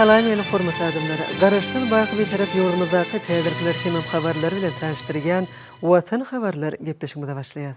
Salam meni hormatly adamlar! Garaşsyz baky Bitarap ýurdumyzdaky täzirkler hemem habarlar bilen tanyşdyrýan Watan habarlar gepleşigimize başlaýas.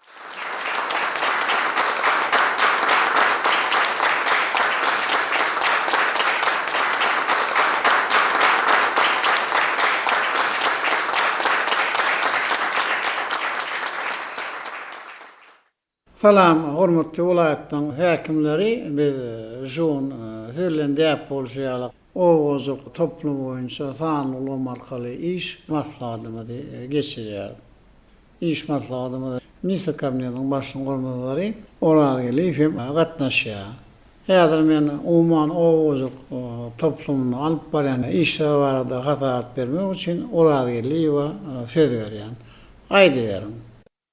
Salam, hormatly welaýatlaryň häkimleri! Biz Žun, siz bilen däp bolşy ýaly, owajuk toplumy boýunça sanly ulam arkaly iş maslahatymyzy geçirýäris. Iş maslahatymyza ministr kabinetiniň başlygynyň orunbasary Orazgeldiýew hem gatnaşýar. Häzir men umuman oba hojalyk toplumynda alyp barýan işler barada hasabat bermek üçin Orazgeldiýewe söz berýän. Aýdyberiň.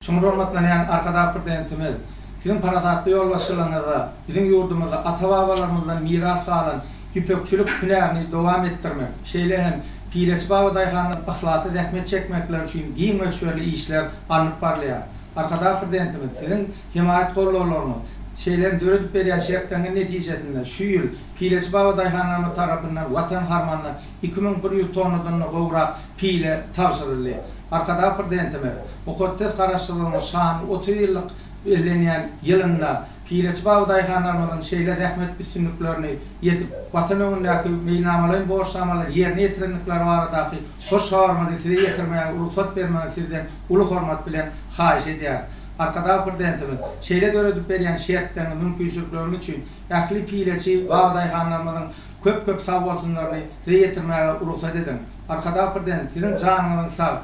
Çuňňur hormatlanýan Arkadag Prezidentimiz, Siziň parasatly ýolbaşçylygyňyzda biziň ýurdumyzda ata-babalarymyzdan miras galan ýüpekçilik hünärini dowam etdirmek, şeýle hem Pireçi baba daýhanlar yhlasly zähmet çekmekleri üçin giň möçberli işler alnyp barylýar. Arkadag Prezidentimiz Siziň hemaýat-gollawlaryňyz, şeýle hem döredip berýän şertleriňiz netijesinde şu ýyl Pireçi baba daýhanlarymyz tarapyndan Watan harmanyna iki müň bir ýüz tonnadan-da gowrak pile tabşyryldy. Arkadag Prezidentimiz mukaddes Garaşsyzlygyň şanly otuz ýyllyk bellenýän ýylynda, Pireçi babadaýhanlarymyzyň şeýle zähmet üstünliklerini ýetip, Watan öňündäki meýilnamalaýyn borçnamalary ýerine ýetirendikleri baradaky hoş habarymyzy size ýetirmäge rugsat bermegiňizi sizden uly hormat bilen haýyş edýäris. Arkadag Prezidentimiz şeýle döredip berýän şertleriňiz, mümkinçilikleriňiz üçin ähli pireçi babadaýhanlarymyzyň köp-köp sagbolsunlaryny size ýetirmäge rugsat ediň. Arkadag Prezident siziň janyňyzyň sag,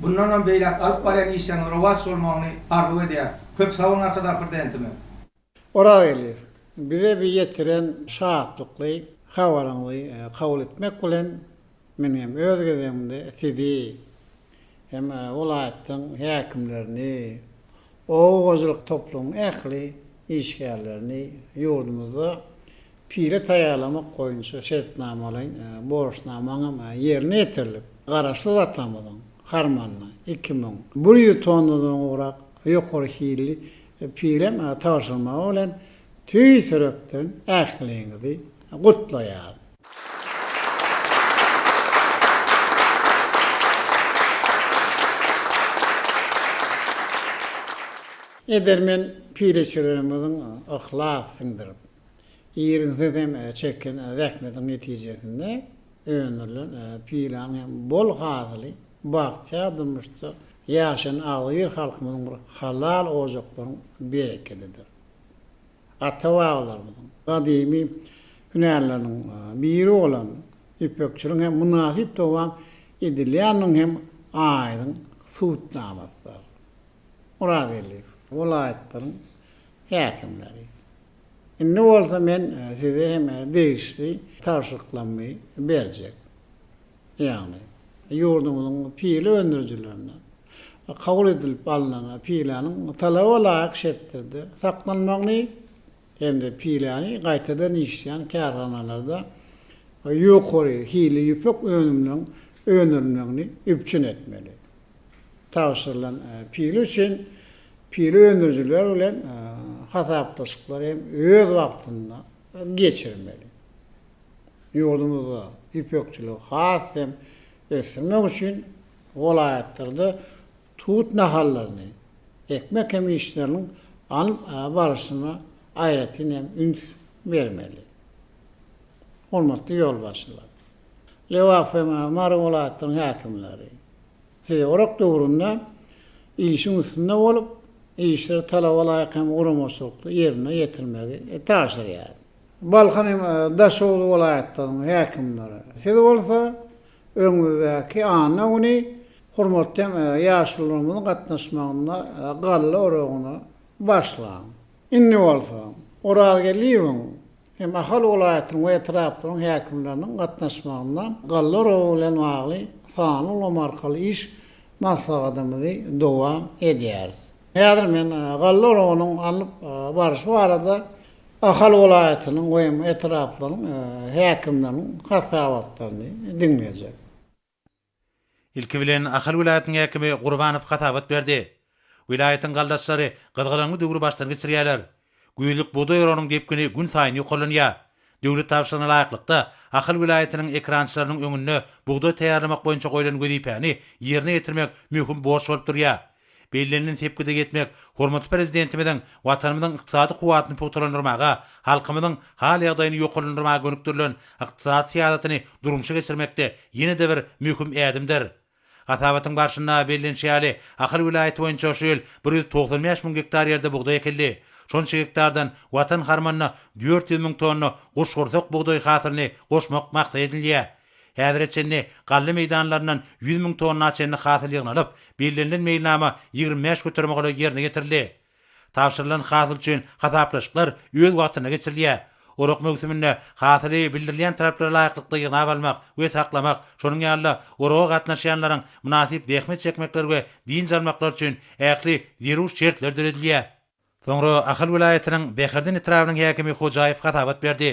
bundanam beýläk alyp barýan işleriňiz rowaç bolmagyny arzuw edýäris. Köp sag boluň Arkadagly Prezidentimiz. Oragelýew, bize bi ýetiren şatlykly habaryňyzy kabul etmek bilen, men hem öz gezegimde sizi hem welaýatyň häkimlerini, oba hojalyk toplumyň ähli işgärlerini ýurdumyzda pile taýýarlamak boýunça şertnamalaýyn borçnamaň hem ýerine ýetirilip, Garaşsyz atamyzyň harmanyna iki müň bir ýüz tonnadan gowrak Ýokary hilli pirem tabşyrmagy bilen tüýs ýürekden ähliňizi gutlaýaryn. Edermen pireçilerimiziň yhlas siňdirip. Irginsiz hem çeken zähmetiň netijesinde öndürilen pylan hem bol hasyly bagtyýar durmuşda ýaşaýan agzybir halkymyzyň bir halal ojaklaryň berekedidir. Ata-babalarymyzyň gadymy hünärleriniň biri bolan ýüpekçiligiň hem mynasyp dowam edilýändigiň hem aýdyň subutnamasydyr. Myrat Elliýew welaýatlaryň häkimleri. Indi bolsa men size hem degişli tabşyryklarymy berjek. Ýagny, ýurdumyzyň pile öndürijilerine kabul edilip alnan piläniň talaba laýyk şertlerde saklanmagyny hem-de piläni gaýtadan işleýän kärhanalarda ýokary hilli ýüpek önüminiň öndürilmegini üpjün etmeli. tabşyrylan pile üçin pile öndürijiler bilen hasaplaşyklary hem öz wagtynda geçirmeli. Ýurdumyzda ýüpekçiligi has hem ösdürmek üçin welaýatlarda tut nahallaryny ekmek hem işleriniň alnyp barşyna aýratyn hem üns bermeli. Hormatly ýolbaşçylar! Lebap hem Mary welaýatlarynyň häkimleri, Siz orak döwründe işiň üstünde bolup, işleri talaba laýyk hem guramaçylykly ýerine ýetirmegi tabşyrýaryn. Balkan hem Daşoguz welaýatlarynyň häkimleri, siz bolsa öňümizdäki anna güni hormatly hem ýaşulularymyzyň gatnaşmagynda galla oragyny başlaň. Indi bolsa Orazgeldiýewiň hem Ahal welaýatynyň we etraplaryň häkimleriniň gatnaşmagynda galla uragy bilen bagly sanly ulgam arkaly iş maslahatymyzy dowam edýäris. Häzir men galla uragynyň alnyp barşy barada Ahal welaýatynyň we hem etraplaryň häkimleriniň hasabatlaryny diňlejek. Ilki bilen Ahal welaýatynyň häkimi Gurbanow hasabat berdi. Welaýatyň galdaçlary gyzgalaňly döwri başdan geçirýärler. Güýzlük bugdaý oragynyň depgini gün saýyn ýokarlanýar. Döwlet tabşyrygyna laýyklykda, Ahal welaýatynyň ekerançylarynyň öňünde bugdaý taýýarlamak boýunça goýlan wezipäni ýerine ýetirmek möhüm borç bolup durýar. Bellenilen sepgide ýetmek hormatly Prezidentimiziň Watanymyzyň ykdysady kuwwatyny pugtalandyrmaga, halkymyzyň hal-ýagdaýyny ýokarlandyrmaga gönükdirilen ykdysady syýasatyny durmuşa geçirmekde ýene-de bir möhüm ädimdir. Hasabatyň barşynda bellenişi ýaly, Ahal welaýaty boýunça şu ýyl bir ýüz togsan bäş müň gektar ýerde bugdaý ekildi. Şonça gektardan Watan harmanyna dört ýüz müň tonna guşgursak bugdaý hasylyny goşmak maksat edinilýär. Häzire çenli galla meýdanlaryndan ýüz müň tonna çenli hasyl ýygnalyp, bellenilen meýilnama ýigrimi bäş göterime golaý ýerine ýetirildi. Tabşyrylan hasyl üçin hasaplaşyklar öz wagtynda geçirilýär. Orak möwsüminde hasyly bildirilýän talaplara laýyklykda ýygnap almak we saklamak, şonuň ýaly-da oraga gatnaşýanlaryň mynasyp zähmet çekmekleri we dynç almaklary üçin ähli zerur şertler döredilýär. Soňra Ahal welaýatynyň Bäherden etrabynyň häkimi Hojaýew hasabat berdi.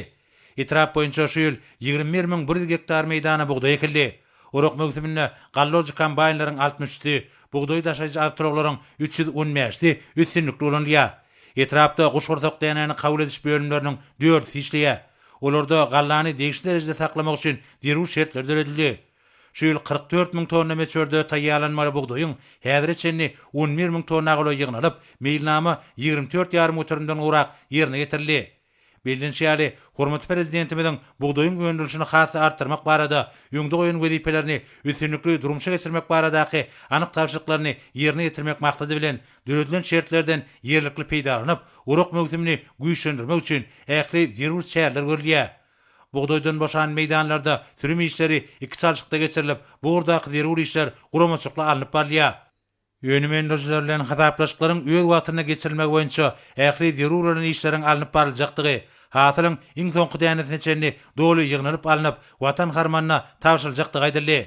Etrap boýunça şu ýyl ýigrimi bir müň bir ýüz gektar meýdana bugdaý ekildi. Orak möwsüminde gallolojy kombaýnlaryň altmyş üçüsi, bugdaý daşaýjy awtoulaglaryň üç ýüz on bäşisi üstünlikli ulanylýar. Etrapda guşgursak dänäni kabul ediş bölümleriniň dördüsi işleýär. Olarda gallany degişli derejede saklamak üçin zerur şertler döredildi. Şu ýyl kyrk dört müň tonna möçberde taýýarlanmaly bugdaýyň häzire çenli on bir müň tonna golaý ýygnalyp, meýilnama ýigrimi dört ýarym göterimden gowrak ýerine ýetirildi. Bellenişi ýaly, hormatly Prezidentimiziň bugdaýyň öndürilişini has-da artdyrmak barada öňde goýan wezipelerini üstünlikli durmuşa geçirmek baradaky anyk tabşyryklaryny ýerine ýetirmek maksady bilen döredilen şertlerden ýerlikli peýdalanyp, orak möwsümini güýçlendirmek üçin ähli zerur çäreler görülýär. Bugdaýdan boşan meýdanlarda sürüm işleri iki çalşykda geçirilip, bu ugurdaky zerur işler guramaçykly alnyp barylýar. Önüm öndürijiler bilen hasaplaşyklaryň öz wagtynda geçirilmegi boýunça ähli zerur bolan işleriň alnyp baryljakdygy, hasylyň iň soňky dänesine çenli doly ýygnalyp alnyp, Watan harmanyna tabşyryljakdygy aýdyldy.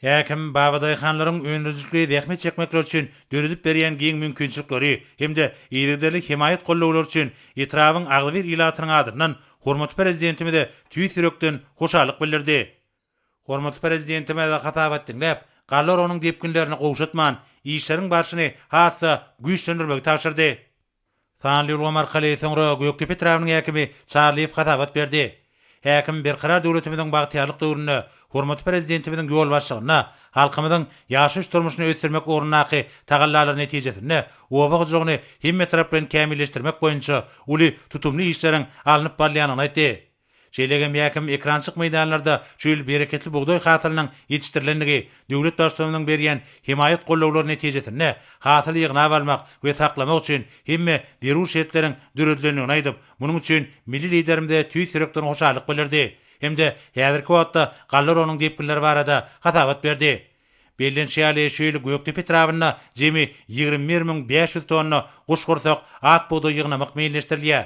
Häkim, babadaýhanlaryň öndürijilikli zähmet çekmekleri üçin döredip berýän giň mümkinçilikleri hem-de yzygiderli hemaýat gollawlary üçin etrabyň agzybir ilatynyň adyndan hormatly Prezidentimize tüýs ýürekden hoşallyk bildirdi. Hormatly Prezidentimiz hasabat diňläp, galla oragynyň depginlerini gowşatman, işleriň barşyny has-da güýçlendirmegi tabşyrdy. Sanly ulgam arkaly soňra Gökdepe etrabynyň häkimi Çarlyýew hasabat berdi. Häkim Berkarar döwletimiziň bagtyýarlyk döwründe hormatly Prezidentimiziň ýolbaşçylygynda halkymyzyň ýaşaýyş-durmuşyny ösdürmek ugrundaky tagallalary netijesinde oba hojalygyny hemmetaraplaýyn kämilleşdirmek boýunça uly tutumly işleriň alnyp barylýandygyny aýtdy. Şeýle hem ýäkim ekrançyk meýdanlarda şu ýyl bereketli bugdaý hasylynyň ýetişdirilendigi, döwlet Baştutanymyzyň berýän hemaýat gollawlary netijesinde hasyly ýygnap almak we saklamak üçin hemme zerur şertleriň döredilendigini aýdyp, munuň üçin milli Liderimize tüýs ýürekden hoşallyk bildirdi hem-de häzirki wagtda galla oragynyň depginleri barada hasabat berdi. Bellenişi ýaly, şu ýyl Gökdepe etrabynda jemi ýigrimi bir müň bäş ýüz tonna guşgursak ak bugdaý ýygnamak meýilleşdirilýär.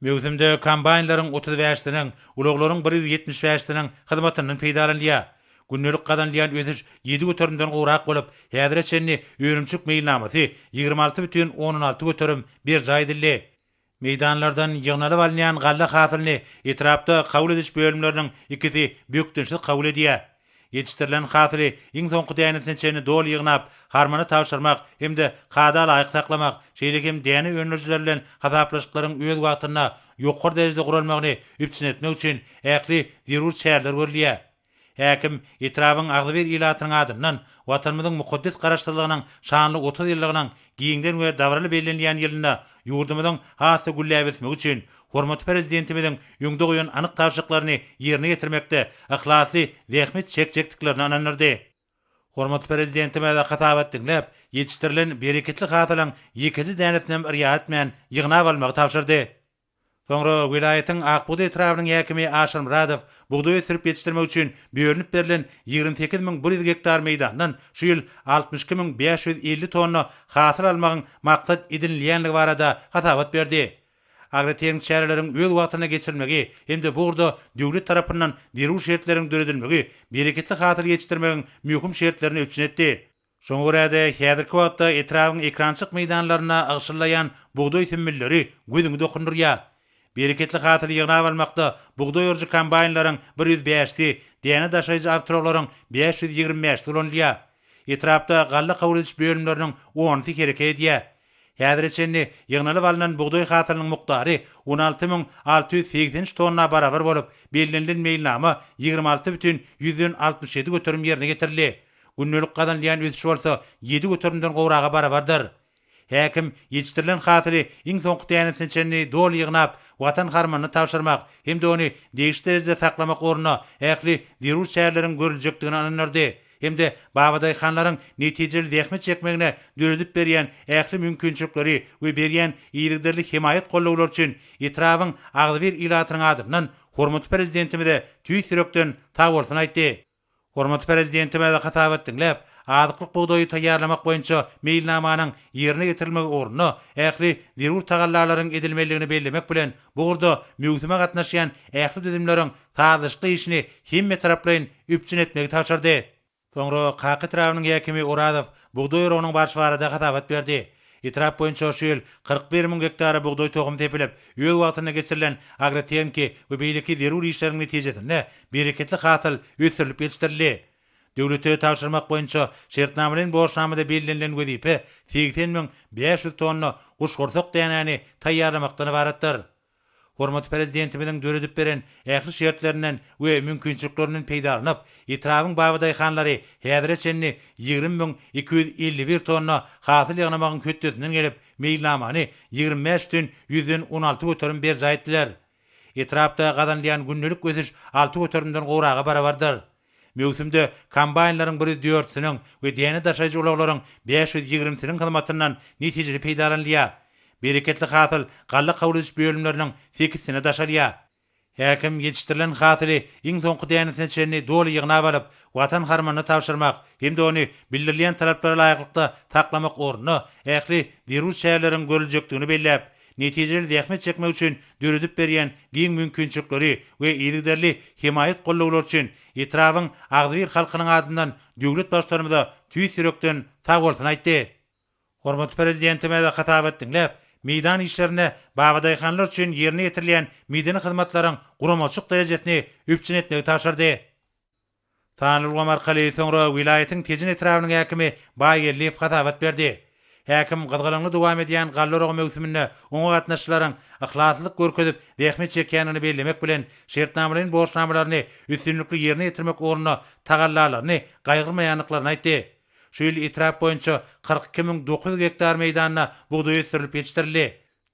Möwsümde kombaýnlaryň otuz bäş siniň, ulaglaryň bir ýüz ýetmiş bäş siniň hyzmatyndan peýdalanylýar. Gündelik gazanylýan ösüş ýedi göterimden gowrak bolup, häzire çenli önümçilik meýilnamasy ýigrimi alty bütin ondan alty göterim berjaý edildi. Meýdanlardan ýygnalyp alynýan galla hasylyny etrapda kabul ediş bölümleriniň ikisi bökdençsiz kabul edýär. Ýetişdirilen hasyly iň soňky dänesine çenli doly ýygnap, harmana tabşyrmak hem-de kada laýyk saklamak, şeýle hem däne öndürijiler bilen hasaplaşyklaryň öz wagtynda, ýokary derejede guralmagyny üpjün etmek üçin ähli zerur çäreler görülýär. Häkim, etrabyň agzybir ilatynyň adyndan Watanymyzyň mukaddes Garaşsyzlygynyň şanly otuz ýyllygynyň Giňden we dabaraly bellenilýän ýylynda ýurdumyzyň has-da gülläp ösmegi üçin hormatly Prezidentimiziň öňde goýan anyk tabşyryklaryny ýerine ýetirmekde yhlasly zähmet çekjekdiklerine ynandyrdy. Hormatly Prezidentimiz hasabat diňläp, ýetişdirilen bereketli hasylyň ýekeje dänesinem yrýa etmän ýygnap almagy tabşyrdy. Soňra welaýatyň Akbugdaý etrabynyň häkimi Aşyr Myradow bugdaý ösdürip ýetişdirmek üçin bölünip berlen ýigrimi sekiz müň bir ýüz gektar meýdandan şu ýyl altmyş iki müň bäş ýüz elli tonna hasyl almagyň maksat edinilýänligi barada hasabat berdi. Agrotermik çäreleriň öz wagtynda geçirilmegi hem-de bu ugurda döwlet tarapyndan zerur şertleriň döredilmegi bereketli hasyl ýetişdirmegiň möhüm şertlerini üpjün etdi. Şoňa görä-de, häzirki wagtda etrabyň ekrançyk meýdanlarynda agşyllaýan bugdaý sümmülleri gözüňi dokundyrýar. Bereketli hasyly ýygnap almakda bugdaý orujy kombaýnlaryň bir ýüz bäşisi, däne daşaýjy awtoulaglaryň bäş ýüz ýigrimi bäşisi ulanylýar. Etrapda galla kabul ediş bölümleriniň onusy hereket edýär. Häzire çenli ýygnalyp alnan bugdaý hasylynyň mukdary on alty müň alty ýüz segsen üç tonna barabar bolup, bellenilen meýilnama ýigrimi alty bütin ýüzden altmyş ýedi göterim ýerine getirildi. Gündelik gazanylýan ösüş bolsa ýedi göterimden gowraga barabardyr. Häkim ýetişdirilen hasyly iň soňky dänesine çenli doly ýygnap, Watan harmanyna tabşyrmak hem-de ony degişli derejede saklamak ugrunda ähli zerur çäreleriň görüljekdigine ynandyrdy. hem-de babadaýhanlaryň netijeli zähmet çekmegine döredip berýän ähli mümkinçilikleri we berýän yzygiderli hemaýat-gollawlary üçin etrabyň agzybir ilatynyň adyndan hormatly Prezidentimize tüýs ýürekden sagbolsun aýtdy. Hormatly Prezidentimiz hasabat diňläp, azyklyk bugdaýy taýýarlamak boýunça meýilnamanyň ýerine ýetirilmegi ugrunda ähli zerur tagallalaryň edilmelidigini bellemek bilen, Bu ugurda möwsüme gatnaşýan ähli düzümleriň sazlaşykly işini hemmetaraplaýyn üpjün etmegi tabşyrdy. Soňra Kaka etrabynyň häkimi Orazow bugdaý oragynyň barşy barada hasabat berdi. Etrap boýunça şu ýyl kyrk bir müň gektara bugdaý tohumy sepilip, öz wagtynda geçirilen agrotehniki we beýleki zerur işleriň netijesinde bereketli hasyl ösdürilip ýetişdirildi. Döwlete tabşyrmak boýunça şertnamalaýyn borçnamada bellenilen wezipe segsen müň bäş ýüz tonna guşgursak dänäni taýýarlamakdan ybaratdyr. Hormatly Prezidentimiziň döredip beren ähli şertlerinden we mümkinçiliklerinden peýdalanyp, etrabyň babadaýhanlary häzire çenli ýigrimi müň iki ýüz elli bir tonna hasyl ýygnamagyň hötdesinden gelip, meýilnamany ýigrimi bäş bütin ýüzden on alty göterim berjaý etdiler. Etrapda gazanylýan gündelik ösüş alty göterimden gowraga barabardyr. Möwsümde kombaýnlaryň bir ýüz dörtüsiniň we däne daşaýjy ulaglaryň bäş ýüz ýigrimisiniň hyzmatyndan netijeli peýdalanylýar. Bereketli hasyl galla kabul ediş bölümleriniň sekizsine daşalýar. Häkim ýetişdirilen hasyly iň soňky dänesine çenli doly ýygnap alyp, Watan harmanyna tabşyrmak hem-de ony bildirilýän talaplara laýyklykda saklamak ugrunda ähli zerur çäreleriň görüljekdigini belläp, netijeli zähmet çekmek üçin döredip berýän giň mümkinçilikleri we yzygiderli hemaýat-gollawlary üçin etrabyň agzybir halkynyň adyndan döwlet Baştutanymyza tüýs ýürekden sag bolsun aýtdy. Hormatly Prezidentimiz hasabat diňläp, meýdan işlerinde babadaýhanlar üçin ýerine ýetirilýän medeni hyzmatlaryň guramaçylyk derejesini üpjün etmegi tabşyrdy. Sanly ulgam arkaly soňra welaýatyň Tejen etrabynyň häkimi Baýgeldiýew hasabat berdi. Häkim gyzgalaňly dowam edýän galla oragy möwsüminde oňa gatnaşyjylaryň yhlaslylyk görkezip zähmet çekýändigini bellemek bilen, şertnamalaýyn borçnamalaryny üstünlikli ýerine ýetirmek ugrunda tagallalaryny gaýgyrmaýandyklaryny aýtdy. Şu ýyl etrap boýunça kyrk iki müň dokuz ýüz gektar meýdanda bugdaý ösdürilip ýetişdirildi.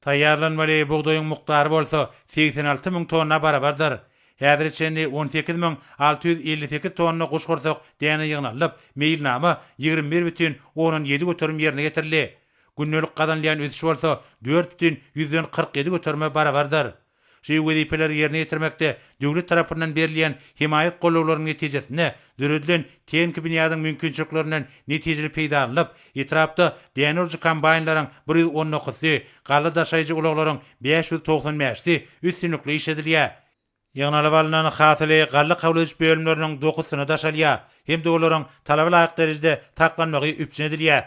Taýýarlanmaly bugdaýyň mukdary bolsa segsen alty müň tonna barabardyr. Häzire çenli on sekiz müň alty ýüz elli sekiz tonna guşgursak däne ýygnalyp, meýilnama ýigrimi bir bütin ondan ýedi göterim ýerine getirildi. Gündelik gazanylýan ösüş bolsa dört bütin ýüzden kyrk ýedi göterime barabardyr. Şu wezipeleri ýerine ýetirmekde döwlet tarapyndan berilýän hemaýat gollawlarynyň netijesinde döredilen tehniki binýadyň mümkinçiliklerinden netijeli peýdalanylyp, etrapda däne urujy kombaýnlaryň bir ýüz on dokuzysy, galla daşaýjy ulaglaryň bäş ýüz togsan bäşisi üstünlikli işledilýär. Ýygnalyp alnan hasyly galla kabul ediş bölümleriniň dokusyna daşalýar hem-de olaryň talaba laýyk derejede saklanmagy üpjün edilýär.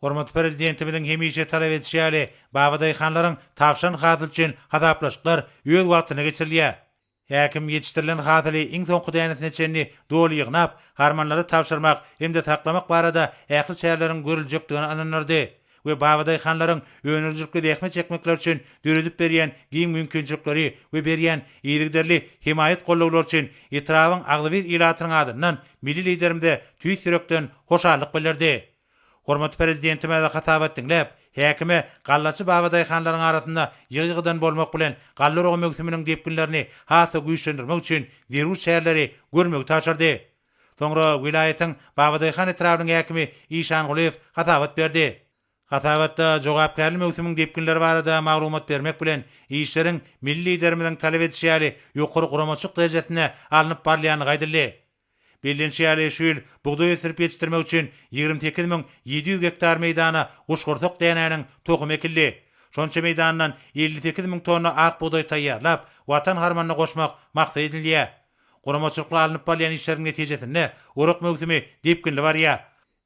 Hormatly Prezidentimiziň hemişe talap edişi ýaly, babadaýhanlaryň tabşan hasyl üçin hasaplaşyklar öz wagtynda geçirilýär. Häkim ýetişdirilen hasyly iň soňky dänesine çenli doly ýygnap, harmanlara tabşyrmak hem-de saklamak barada ähli çäreleriň görüljekdigine ynandyrdy we babadaýhanlaryň önerijilikli zähmet çekmekleri üçin döredip berýän giň mümkinçilikleri we berýän yzygiderli hemaýat-gollawlary üçin etrabyň agzybir ilatynyň adyndan Milli Liderimize tüýs ýürekden hoşallyk bildirdi. Hormatly Prezidentimize hasabat diňläp, häkime gallaçy babadaýhanlaryň arasynda ýygy-ýygydan bolmak bilen galla oragy möwsüminiň depginlerini has-da güýçlendirmek üçin zerur çäreleri görmegi tabşyrdy. Soňra welaýatyň Babadaýhan etrabynyň häkimi Işan Gulyýew hasabat berdi. Hasabatda jogapkärli möwsümiň depginleri barada maglumat bermek bilen, işleriň Milli Liderimiziň talap edişi ýaly ýokary guramaçylyk derejesinde alnyp barylýandygy aýdyldy. Bellenişi ýaly, şu ýyl bugdaý ösdürip ýetişdirmek üçin ýigrimi sekiz müň ýedi ýüz gektar meýdana guşgursak dänäniň tohumy ekildi. Şonça meýdandan elli sekiz müň tonna ak bugdaý taýýarlap, Watan harmanyna goşmak maksat edinilýär. Guramaçylykly alnyp barylýan işleriň netijesinde orak möwsümi depginli barýar.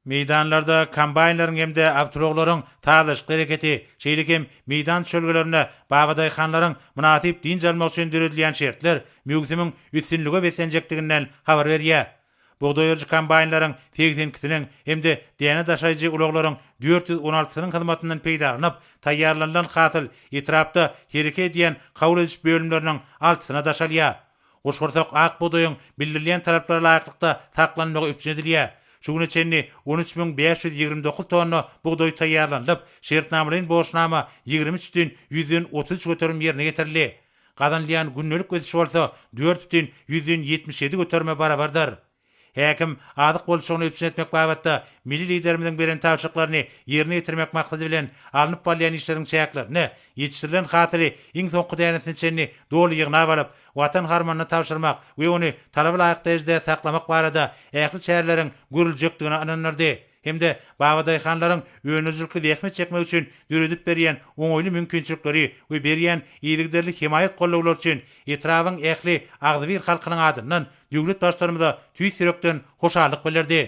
Meýdanlarda kombaýnlaryň hem-de awtoulaglaryň sazlaşykly hereketi, şeýle hem meýdan çölgelerinde babadaýhanlaryň mynasyp dynç almagy üçin döredilýän şertler möwsümiň üstünlige beslenjekdiginden habar berýär. Bugdaý oýujy kombaýnlaryň segsen ikisiniň hem-de däne daşaýjy ulaglaryň dört ýüz on altysynyň hyzmatyndan peýdalanyp, taýýarlanylan hasyl etrapda hereke edýän kabul ediş bölümleriniň altysyna daşalýar. Guşgursak ak bugdaýyň bildirilýän talaplara laýyklykda saklanmagy üpjün edilýär. Şu güne çenli on üç müň bäş ýüz ýigrimi dokuz tonna bugdaý taýýarlanylyp, şertnamalaýyn borçnama ýigrimi üç düýn ýüzden otuz üç göterim ýerine getirildi. Gazanylýan gündelik ösüş bolsa dört düýn ýüzden ýetmiş ýedi göterime barabardyr. Häkim, azyk bolçulygyny üpjün etmek babatda milli Liderimiziň beren tabşyryklaryny ýerine ýetirmek maksady bilen alnyp barylýan işleriň çäklerinde ýetişdirilen hasyly iň soňky dänesine çenli doly ýygnap alyp, Watan harmanyna tabşyrmak we ony talaba laýyk derejede saklamak barada ähli çäreleriň görüljekdigine ynandyrdy. hem-de babadaýhanlaryň önerijilikli zähmet çekmegi üçin döredip berýän oňaýly mümkinçilikleri we berýän yzygiderli hemaýat-gollawlary üçin etrabyň ähli agzybir halkynyň adyndan döwlet Baştutanymyza tüýs ýürekden hoşallyk bildirdi.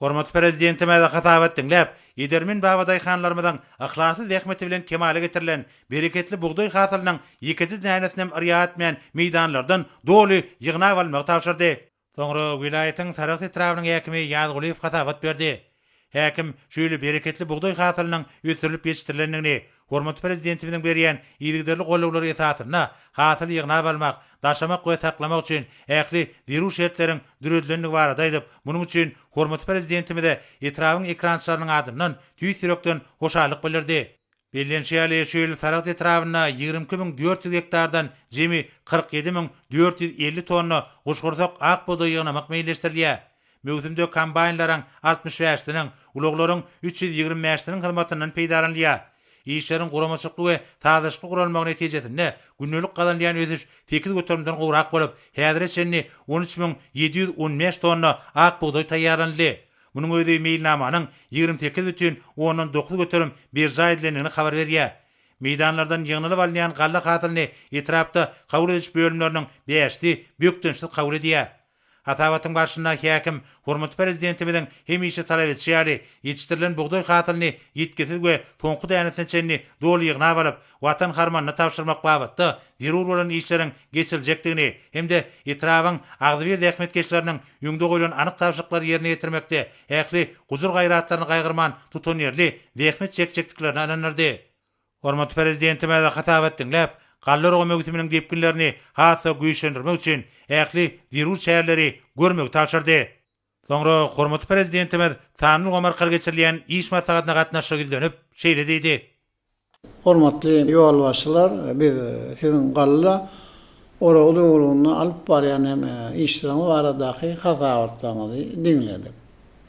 Hormatly Prezidentimiz hasabat diňläp, edermen babadaýhanlarymyzyň yhlasly zähmeti bilen kemala getirilen bereketli bugdaý hasylynyň ýekeje dänesinem yrýa etmän meýdanlardan doly ýygnap almagy tabşyrdy. Soňra welaýatyň Sarahs etrabynyň häkimi Ýazgulyýew hasabat berdi. Häkim şeýle bereketli bugdaý hasylynyň ösdürilip ýetişdirilendigini, hormatly Prezidentimiziň berýän yzygiderli gollawlary esasynda hasyly ýygnap almak, daşamak we saklamak üçin ähli zerur şertleriň döredilendigi barada aýdyp, munuň üçin hormatly Prezidentimize etrabyň ekrançylarynyň adyndan tüýs ýürekden hoşallyk bildirdi. Bellenişi ýaly, şu ýyl Saragt etrabynda ýigrimi iki müň dört ýüz gektardan jemi kyrk ýedi müň dört ýüz elli tonna guşgursak ak bugdaý ýygnamak meýilleşdirilýär. Möwsümde kombaýnlaryň altmyş bäşisiniň, ulaglaryň üç ýüz ýigrimi bäşisiniň hyzmatyndan peýdalanylýar. Işleriň guramaçylykly we sazlaşykly guralmagy netijesinde gündelik gazanylýan ösüş sekiz göterimden gowrak bolup, häzire çenli on üç müň ýedi ýüz on bäş tonna ak bugdaý taýýarlanyldy. Munuň özi meýilnamanyň ýigrimi sekiz bütin ondan dokuz göterim berjaý edilendigini habar berýär. Meýdanlardan ýygnalyp alynýan galla hasylyny etrapda kabul ediş bölümleriniň bäşisi bökdençsiz kabul edýär. Hasabatyň barşynda häkim hormatly Prezidentimiziň hemişe talap edişi ýaly, ýetişdirilen bugdaý hasylyny ýitgisiz we soňky dänesine çenli doly ýygnap alyp, Watan harmanyna tabşyrmak babatda zerur bolan işleriň geçiriljekdigini hem-de etrabyň agzybir zähmetkeşleriniň öňde goýlan anyk tabşyryklary ýerine ýetirmekde ähli gujur-gaýratlaryny gaýgyrman tutanýerli zähmet çekjekdiklerine ynandyrdy. Hormatly Prezidentimize hasabat diňläp, galla urgy möwsüminiň depginlerini has-da güýçlendirmek üçin ähli zerur çäreleri görmegi tabşyrdy. Soňra hormatly Prezidentimiz sanly ulgam arkaly geçirilýän iş maslahatyna gatnaşyp ýüzlenip, şeýle diýdi. Hormatly ýolbaşçylar, biz Siziň galla oragy döwründe alyp barýan hem işleriňiz baradaky hasabatlaryňyzy diňledik.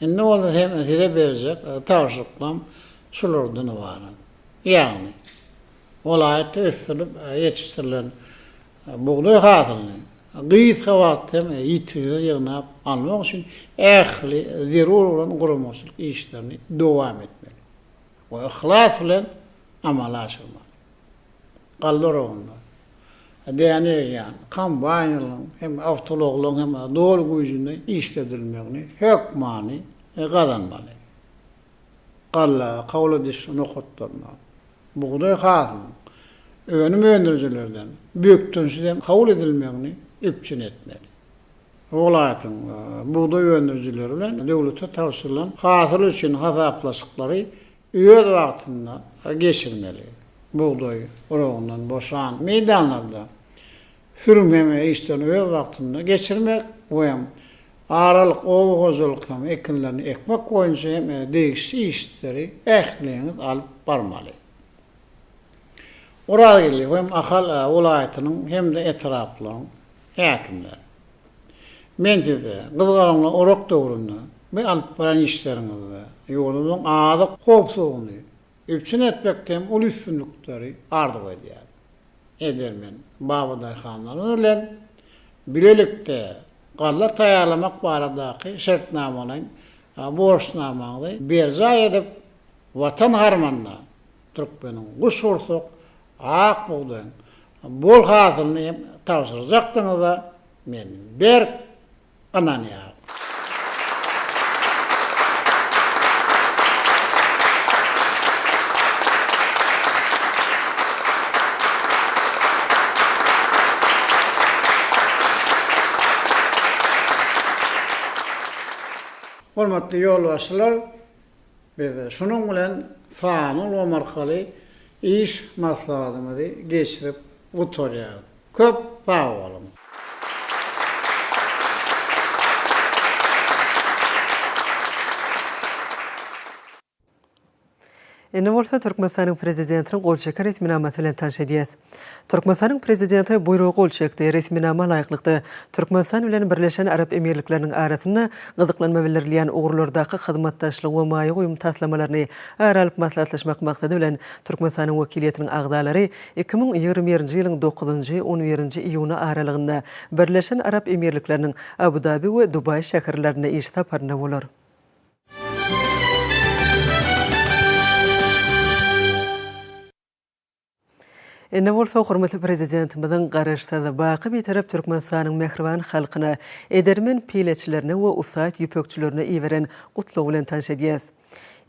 Indi bolsa hem Size berjek tabşyryklarym şulardan ybarat. Ýagny, welaýatda ösdürilip ýetişdirilen Bugdaý hasylyny gysga wagtda hem ýitgisiz ýygnap almak üçin ähli zerur bolan guramaçylyk işlerini dowam etmeli we yhlas bilen amala aşyrmaly. Galla oragynda däne egýän kombaýnlaryň hem awtoulaglaryň hem doly güýjünde işledilmegini hökmany gazanmaly. galla, kabul ediş nokatlarynda bugdaý hasylynyň önüm öndürijilerden bökdençsiz hem kabul edilmegini üpjün etmeli. Welaýatyň bugdaý öndürijileri bilen döwlete tabşyrylan hasyl üçin hasaplaşyklary öz wagtynda geçirmeli. Bugdaý urugyndan boşan meýdanlarda sürmegini işlerini öz wagtynda geçirmek we aralyk oba hojalyk hem ekinlerini ekmek boýunça hem degişli işleri ähliňiz alyp barmaly. Orazgeldi hem Ahal welaýatynyň hem-de etraplaryň häkimleri. Men size gyzgalaňly orak döwründe we alyp baran işleriňizde ýurdumyzyň azyk howpsuzlygyny Üpjün etmekde hem uly üstünlikleri arzuw edýär. Edermen Baba daýhanlarymyz bilen bilelikde galla taýýarlamak baradaky şertnamalaýyn borçnamaňyzy berjaý edip, Watan harmanyna türkmeniň guşgursak ak bugdaýyň bol hasylyny hem tabşyrjakdygyňyza men berk ynanýaryn. Hormatly ýolbaşçylar, Biz şunuň bilen sanly ulgam arkaly iş maslahatymyzy geçirip gutarýarys. Köp sag boluň! Indi bolsa Türkmenistanyň Prezidentiniň gol çeken resminamasy bilen tanş edýäs. Türkmenistanyň Prezidenti buýruga gol çekdi. Resminama laýyklykda, Türkmenistan bilen Birleşen Arap Emirlikleriniň arasynda gyzyklanma bildirilýän ugurlardaky hyzmatdaşlygy we maýa goýum taslamalaryny ara alyp maslahatlaşmak maksady bilen, Türkmenistanyň wekiliýetiniň agzalary iki müň ýigrimi birinji ýylyň dokuzynjy, on birinji iýuny aralygynda Birleşen Arap Emirlikleriniň Abu-Dabi we Dubaý şäherlerinde iş saparynda bolar. Indi bolsa hormatly Prezidentimiziň Garaşsyz, baky Bitarap Türkmenistanyň mähriban halkyna, edermen pileçilerine we ussat ýüpekçilerine iberen Gutlagy bilen tanyş edýäris.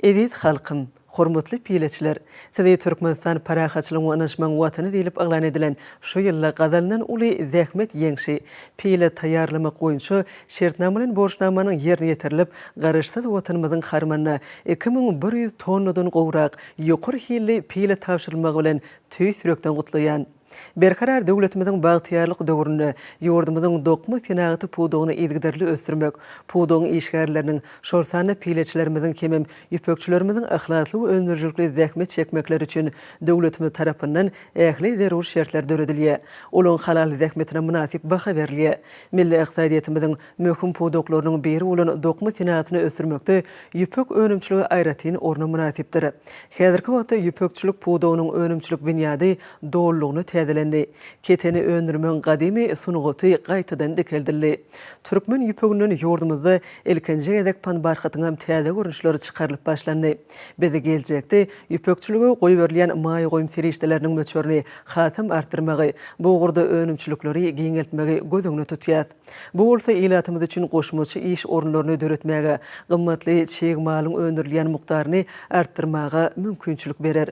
Eziz halkym! Hormatly pileçiler! Sizi Türkmenistan parahatçylygyň we ynanyşmagyň Watany diýlip yglan edilen şu ýylda gazanylan uly zähmet ýeňşi, pile taýýarlamak boýunça şertnamalaýyn borçnamanyň ýerine ýetirilip, Garaşsyz Watanymyzyň harmanyna iki müň bir ýüz tonnadan gowrak Ýokary hilli pile tabşyrylmagy bilen tüýs ýürekden gutlaýan! Berkarar döwletimiziň bagtyýarlyk döwründe ýurdumyzyň dokma senagaty pudagyny yzygiderli ösdürmek, pudagyň işgärleriniň, şol sanda pileçilerimiziň hemem ýüpekçilerimiziň yhlasly we öndürijilikli zähmet çekmekleri üçin döwletimiz tarapyndan ähli zerur şertler döredilýär, olaryň halal zähmetine mynasyp baha berilýär. Milli ykdysadyýetimiziň Möhüm pudaklarynyň biri bolan dokma senasyny ösdürmekde ýüpek önümçiligi aýratyn orna mynasypdyr. Häzirki wagtda ýüpekçilik pudagynyň önümçilik binýady dolulygyna täzelendi. Keteni öndürmegiň gadymy sungaty gaýtadan dikeldildi. Türkmen ýüpeginden ýurdumyzda ilkinji gezek panbarhatyňam täze görnüşleri çykarylyp başlandy. Biz geljekde ýüpekçilige goýberilýän maýa goýum serişdeleriniň möçberini hasam artdyrmagy, bu ugurda önümçilikleri giňeltmegi göz öňüne tutýas. Bu bolsa ilatymyz üçin goşmaça iş orunlaryny döretmäge, gymmatly çig malyň öndürilýän mukdaryny artdyrmaga mümkinçilik berer.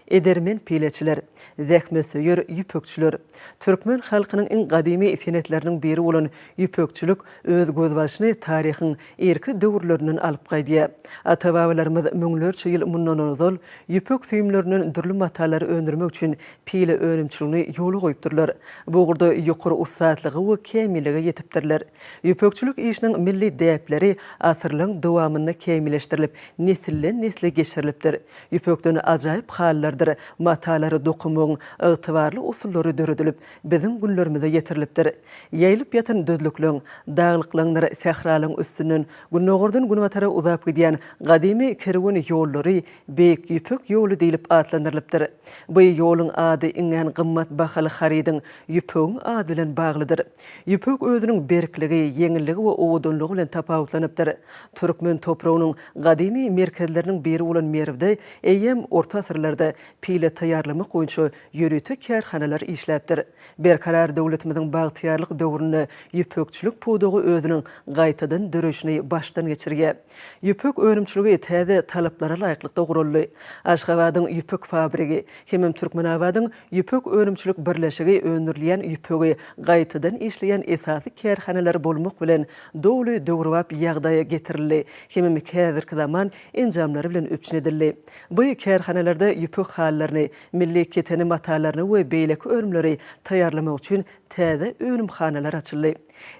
Edermen pileçiler, zähmetsöýer ýüpekçiler. Türkmen halkynyň iň gadymy senetleriniň biri bolan ýüpekçilik öz gözbaşyny taryhyň irki döwürlerinden alyp gaýdýar. Ata-babalarymyz müňlerçe ýyl mundan ozal ýüpek süýümlerinden dürli matalary öndürmek üçin pile önümçiligini ýola goýupdyrlar. Bu ugurda ýokary ussatlyga we kämillige ýetipdirler. Ýüpekçilik işiniň milli däpleri asyrlaryň dowamynda kämilleşdirilip, nesilden-nesle geçirilipdir. Ýüpekden ajaýyp halylardyr matalary dokamagyň ygtybarly usullary döredilip, biziň günlerimize ýetirilipdir. Ýaýylyp ýatan düzlükleň, daglyklaňdyr sähralaň üstünden gündogardan günbatara uzap gidýän gadymy kerwen ýollary Beýik Ýüpek ýoly diýlip atlandyrylypdyr. Bu ýoluň ady iňňän gymmat bahaly harydyň, ýüpegiň ady bilen baglydyr. Ýüpek özüniň berkligi, ýeňilligi we owadanlygy bilen tapawutlanypdyr. Türkmen topragynyň gadymy merkezleriniň biri bolan Merwde eýýäm orta asyrlarda pile taýýarlamak boýunça ýörite kärhanalar işläpdir. Berkarar döwletimiziň bagtyýarlyk döwründe ýüpekçilik pudagy özüniň gaýtadan döreýşini başdan geçirýär. Ýüpek önümçiligi täze talaplara laýyklykda guraldy. Aşgabadyň ýüpek fabrigi hemem Türkmenabadyň ýüpek önümçilik birleşigi öndürilýän ýüpegi gaýtadan işleýän esasy kärhanalar bolmak bilen, doly döwrebap ýagdaýa getirildi hemem häzirki zaman enjamlary bilen üpjün edildi. By kärhanalarda ýüpek halylaryny, Milli keteni matalaryny we beýleki önümleri taýýarlamak üçin täze önümhanalar açyldy.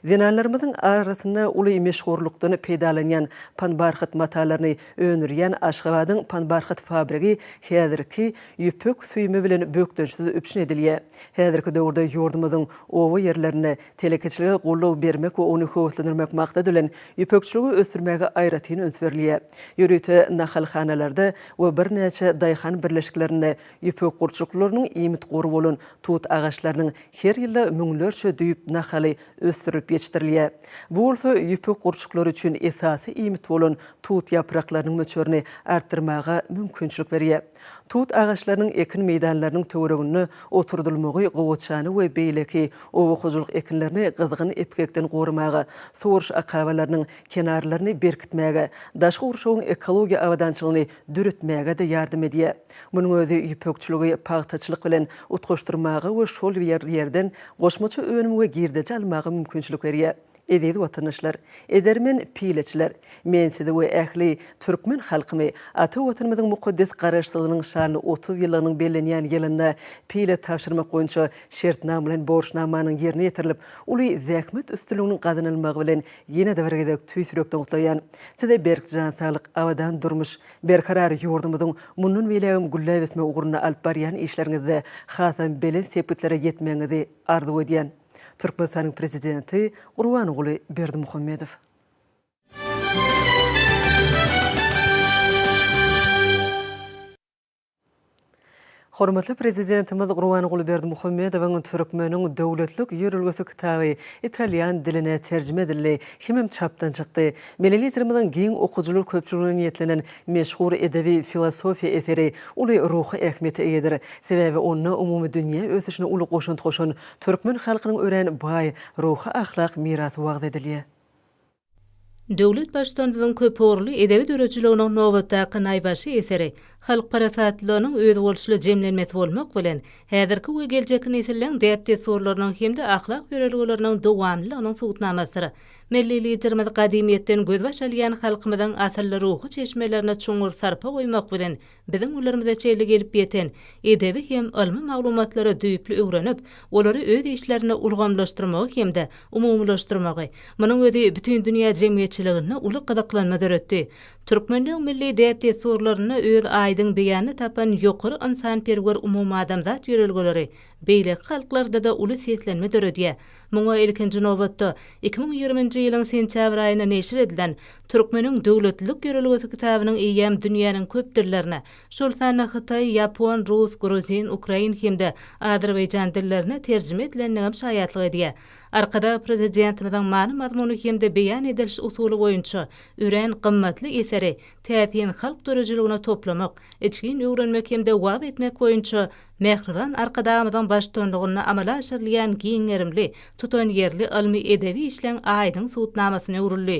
Zenanlarymyzyň arasynda uly meşhurlykdan peýdalanýan panbarhat matalaryny öndürýän Aşgabadyň panbarhat fabrigi häzirki ýüpek süýümi bilen bökdençsiz üpjün edilýär. Häzirki döwürde ýurdumyzyň oba ýerlerinde Telekeçilige goldaw bermek we ony höweslendirmek maksady bilen, ýüpekçiligi ösdürmäge aýratyn üns berilýär. Ýörite nahalhanalarda we birnäçe daýhan birleşiklerinde ýüpek gurçuklarynyň iýmit gory bolan tut agaçlarynyň her ýylda müňlerçe düýp nahaly ösdürilip ýetişdirilýär. Bu bolsa ýüpek gurçuklary üçin esasy iýmit bolan tut ýapraklarynyň möçberini artdyrmaga mümkinçilik berýär. Tut agaçlarynyň ekin meýdanlarynyň töwereginde oturdylmagy gowaçany we beýleki oba hojalyk ekinlerini gyzgyn epgekden goramaga, suwaryş akabalarynyň kenarlaryny berkitmäge, daşky gurşawyň ekologiýa abadançylygyny döretmäge-de ýardam edýär. Munuň özi ýüpekçiligi pagtaçylyk bilen utgaşdyrmaga we şol ýerden goşmaça önüm we girdeji almaga mümkinçilik berýär. Eziz watandaşlar! Edermen pileçiler! Men sizi we ähli türkmen halkymy ata Watanymyzyň mukaddes Garaşsyzlygynyň şanly otuz ýyllygynyň bellenýän ýylynda pile tabşyrmak boýunça şertnama bilen borçnamanyň ýerine ýetirilip, uly zähmet üstünliginiň gazanylmagy bilen ýene-de bir gezek tüýs ýürekden gutlaýan. Size berk jan saglyk, abadan durmuş, berkarar ýurdumyzyň mundan beýlägem gülläp ösmegi ugrunda alyp barýan işleriňizde hasam belent sepgitlere ýetmegiňizi arzuw edýän. Türkmenistanyň Prezidenti Gurbanguly Berdimuhamedow. Hormatly Prezidentimiz Gurbanguly Berdimuhamedowyň Türkmeniň döwletlik ýörelgesi kitaby italýan diline terjime edildi hemem çapdan çykdy. Milli Liderimiziň giň okyjylar köpçüligine niýetlenen meşhur edebi-filosofiýa eseri uly ruhy ähmiýete eýedir. Sebäbi onda umumydünýä ösüşine uly goşant goşan Türkmen halkynyň örän baý ruhy-ahlak mirasy wagyz edilýär. Döwlet Baştutanymyzyň köpugurly edebi döredijiliginiň nobatdaky naýbaşy eseri halk parasatlylygynyň özboluşly jemlenmesi bolmak bilen, häzirki we geljekki nesilleň däp-dessurlarynyň hem-de ahlak ýörelgeleriniň dowamlylygynyň subutnamasydyr. Milli Liderimiz gadymyýetden gözbaş alýan halkymyzyň asylly ruhy çeşmelerine çuňňur sarpa goýmak bilen, Biziň günlerimize çenli gelip ýeten edebi hem ylmy maglumatlary düýpli öwrenip, olary öz işlerinde ulgamlaşdyrmagy hem-de umumylaşdyrmagy, munuň özi bütin dünýä jemgyýetçiliginde uly gyzyklanma döretdi. Türkmenligiň milli däp-dessurlarynda öz aýdyň beýanyny tapan ýokary ynsanperwer umumadamzat ýörelgeleri beýleki halklarda-da uly seslenme döredýär. Muňa, ilkinji nobatda, iki müň ýigriminji ýylyň sentýabr aýynda neşir edilen Türkmeniň döwletlilik ýörelgesi kitabynyň eýýäm dünýäniň köp dillerine, şol sanda hytaý, ýapon, rus, gruzin, ukrain hem-de azerbaýjan dillerine terjime edilendigem şaýatlyk edýär. Arkadag Prezidentimiziň many-mazmuny hem-de beýan ediliş usuly boýunça örän gymmatly eseri täsin halk döredijiligine toplamak, içgin öwrenmek hem-de wagyz etmek boýunça Mähriban Arkadagymyzyň baştutanlygynda amala aşyrylýan giň gerimli, tutanýerli ylmy-edebi işleň aýdyň subutnamasyna öwrüldi.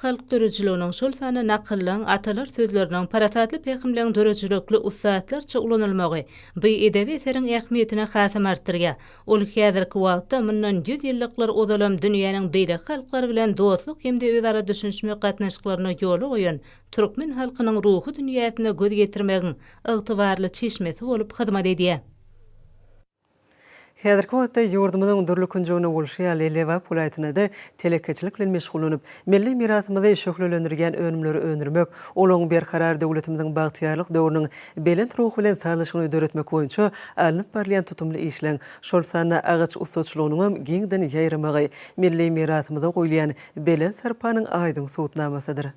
Halk döredijiliginiň, şol sanda nakyllaň, atalar sözleriniň, parasatly pähimleň döredijilikli ussatlarça ulanylmagy bu edebi eseriň ähmiýetini hasam artdyrýar. Ol häzirki wagtda mundan ýüz ýyllyklar ozalam dünýäniň beýleki halklary bilen dostluk hem-de özara düşünişmek gatnaşyklaryny ýola goýan türkmen halkynyň ruhy dünýäsine göz ýetirmegiň ygtybarly çeşmesi bolup hyzmat edýär. Häzirki wagtda ýurdumyzyň dürli künjeginde bolşy ýaly, Lebap welaýatynda-da telekeçilik bilen meşgullanyp, milli mirasymyzy şöhlelendirýän önümleri öndürmek, olaryň berkarar döwletimiziň bagtyýarlyk döwrüniň belent ruhy bilen sazlaşygyny döretmek boýunça alnyp barylýan tutumly işleriň, şol sanda agaç ussaçylygynyňam giňden ýaýramagy milli mirasymyza goýulýan belent sarpanyň aýdyň subutnamasydyr.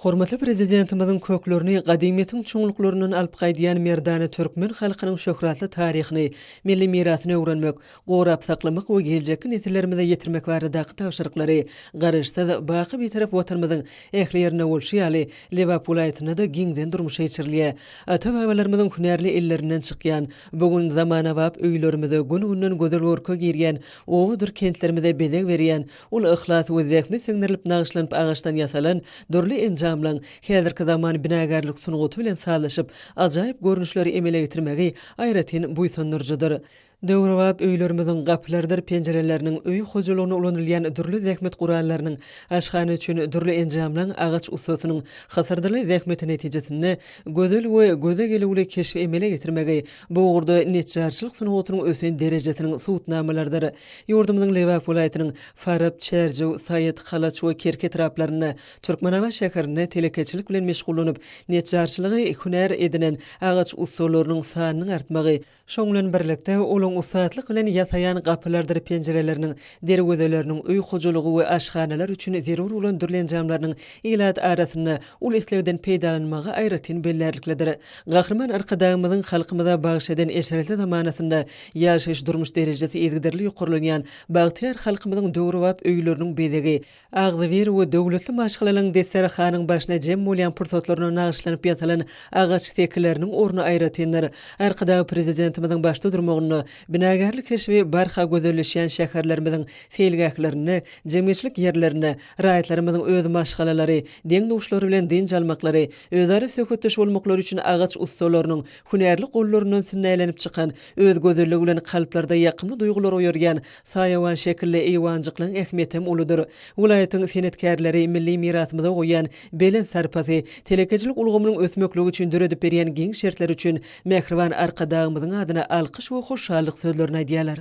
Hormatly Prezidentimiziň köklerini gadymyýetiň çuňluklaryndan alyp gaýdýan merdana türkmen halkynyň şöhratly taryhyny, milli mirasyny öwrenmek, gorap saklamak we geljekki nesillerimize ýetirmek baradaky tabşyryklary Garaşsyz, baky Bitarap Watanymyzyň ähli ýerinde bolşy ýaly, Lebap welaýatynda-da giňden durmuşa geçirilýär. Ata-babalarymyzyň hünärli ellerinden çykýan, bu gün zamanabap öýlerimize, gün-günden gözel görke girýän, obadyr kentlerimize bezeg berýän, Ol yhlas we zähmet siňdirilip nagyşlanyp agaçdan ýasalan dürli enjamlaryň häzirki zaman binagärlik sungaty bilen sazlaşyp, ajaýyp görnüşleri emele getirmegi aýratyn buýsandyryjydyr. Döwrebap öýlerimiziň gapylarydyr penjireleriniň, öý hojalygynda ulanylýan dürli zähmet gurallarynyň, aşhana üçin dürli enjamlaryň agaç ussasynyň hysyrdyly zähmeti netijesinde gözel we göze gelüwli keşbi emele getirmegi bu ugurda neçjarçylyk sungatynyň ösen derejesiniň subutnamalarydyr. Ýurdumyzyň Lebap welaýatynyň Farap, Çärjew, Saýat, Halaç we Kerki etraplarynda, Türkmenabat şäherinde telekeçilik bilen meşgullanyp, neçjarçylygy hünär edinen agaç ussalarynyň sanynyň artmagy, şonuň bilen birlikde, olaryň ussatlyk bilen ýasaýan gapylardyr penjireleriniň, derwezeleriniň, öý hojalygy we aşhanalar üçin zerur bolan dürli enjamlarynyň ilat arasynda uly islegden peýdalanmagy aýratyn bellärliklidir. Gahryman Arkadagymyzyň halkymyza bagyş eden eşretli zamanasynda ýaşaýyş-durmuş derejesi yzygiderli ýokarlanýan bagtyýar halkymyzyň döwrebap öýleriniň bezegi, agzybir we döwletli maşgalanyň desterahanyň başyna jem bolýan pursatlaryna nagyşlanyp ýasalan agaç sekileriniň orny aýratyndyr. Arkadag Prezidentimiziň başda durmagynda binagärlik keşbi barha gözelleşýän şäherlerimiziň seýilgählerinde, jemgyýetçilik ýerlerinde, raýatlarymyzyň öz maşgalalary, deň-duşlary bilen dynç almaklary, Özara söhbetdeş bolmaklary üçin agaç ussalarynyň hünärli gollaryndan sünnälenip çykan, öz gözelligi bilen kalplarda ýakymly duýgulary oýarýan saýawan şekilli eýwanjyklaryň ähmiýetem uludyr. Welaýatyň senetkärleri milli mirasymyza goýýan belent sarpasy, telekeçilik ulgamynyň ösmekligi üçin döredip berýän giň şertleri üçin mähriban Arkadagymyzyň adyna alkyş we hoşallyk sözlerini aýdýarlar.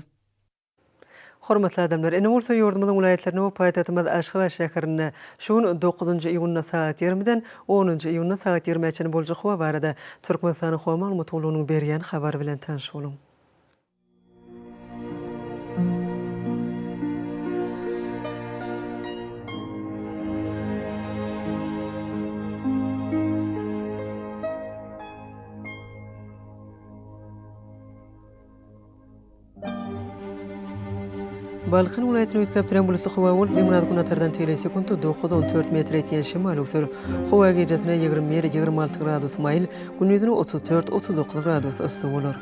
Hormatly adamlar! Ine bolsa ýurdumyzyň welaýatlarynda we paýtagtymyz Aşgabat şäherinde şu gün dokuzynjy iýunda sagat ýigrimiden onunjy iýunda sagat ýigrimä çenli boljak howa barada Türkmenistanyň Howa maglumat gullugynyň berýän habary bilen tanyş boluň. Balkan welaýatyny üýtgäp duran bulutly howa bolup, günorta-günbatardan tegelek sekunta dokuz, on dört metr etýän şemal öwser. Howa gijasine ýigrimi bir, ýigrimi alty gradus maýyl, gündizine otuz dört, otuz dokuz gradus yssy bolar.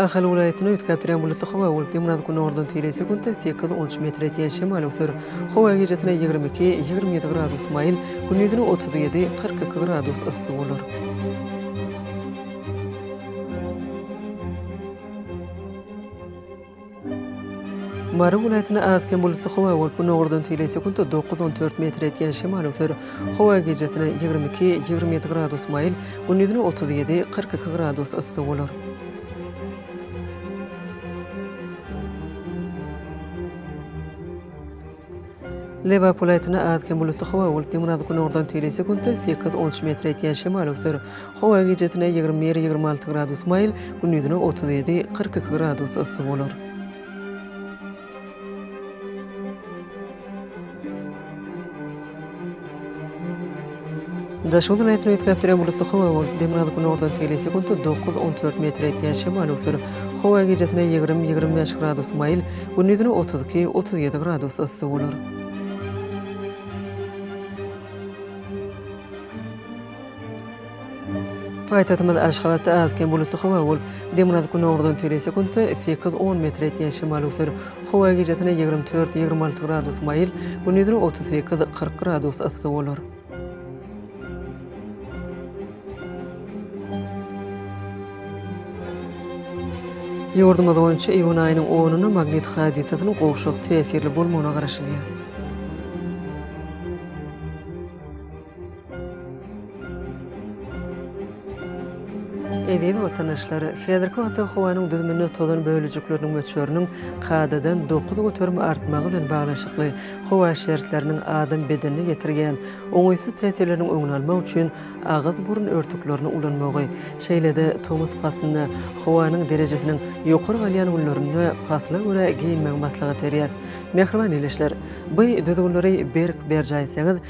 Ahal welaýatyny üýtgäp durýan bulutly howa bolup, demirgazyk-günordan teýelýän sekuntda sekiz, on üç metr etýän şemal öwser. Howa gijesine ýigrimi iki, ýigrimi ýedi gradus maýyl, gündizine otuz ýedi, kyrk iki gradus yssy bolar. Mary welaýatynda az-kem bulutly howa bolup, günordan tegelek sekuntda dokuz-on dört metr ýetýän şemal öser. Howa gijesi-ne ýigrimi iki, ýigrimi ýedi gradus maýyl, gündiz-ne otuz ýedi, kyrk iki gradus yssy bolar. Lebap welaýatynda az-kem bulutly howa bolup, demirgazyk-günordan teýlise günde sekiz, on üç metr ýetýän şemal öwser. Howa gijesine ýigrimi bir, ýigrimi alty gradus maýyl, gündizine otuz ýedi, kyrk iki gradus yssy bolar. Daşoguz welaýatyny üýtgäp duran bulutly howa bolup, demirgazyk-günordan teli sekuntda dokuz, on dört metre ýetýän şemal öwser. Howa gijesine ýigrimi, ýigrimi bäş gradus maýyl, gündizine otuz iki, otuz ýedi gradus yssy bolar. Paýtagtymyz Aşgabatda az-kem bulutly howa bolup, demirgazyk-gündogardan tel sekuntda sekiz, on metr ýetýän şemal öwser. Howa gijesine ýigrimi dört, ýigrimi alty gradus maýyl, gündizine otuz sekiz, kyrk gradus yssy bolar. Ýurdumyz boýunça iýun aýynyň onuna magnit hadysasynyň gowşak täsirli bolmagyna garaşylýar. Eziz watandaşlar, häzirki wagtda howanyň düzüminde tozan bölejikleriniň möçberiniň kadadan dokuz göterim artmagy bilen baglanyşykly howa şertleriniň adam bedenine ýetirýän oňaýsyz täsirleriniň öňüni almak üçin agyz-burun örtüklerini ulanmagy, şeýle-de tomus paslynda howanyň derejesiniň ýokary galýan günlerinde pasla görä geýinmegi maslahat berýäs. Mähriban ildeşler, bu düzgünleri berk berjaý etseňiz,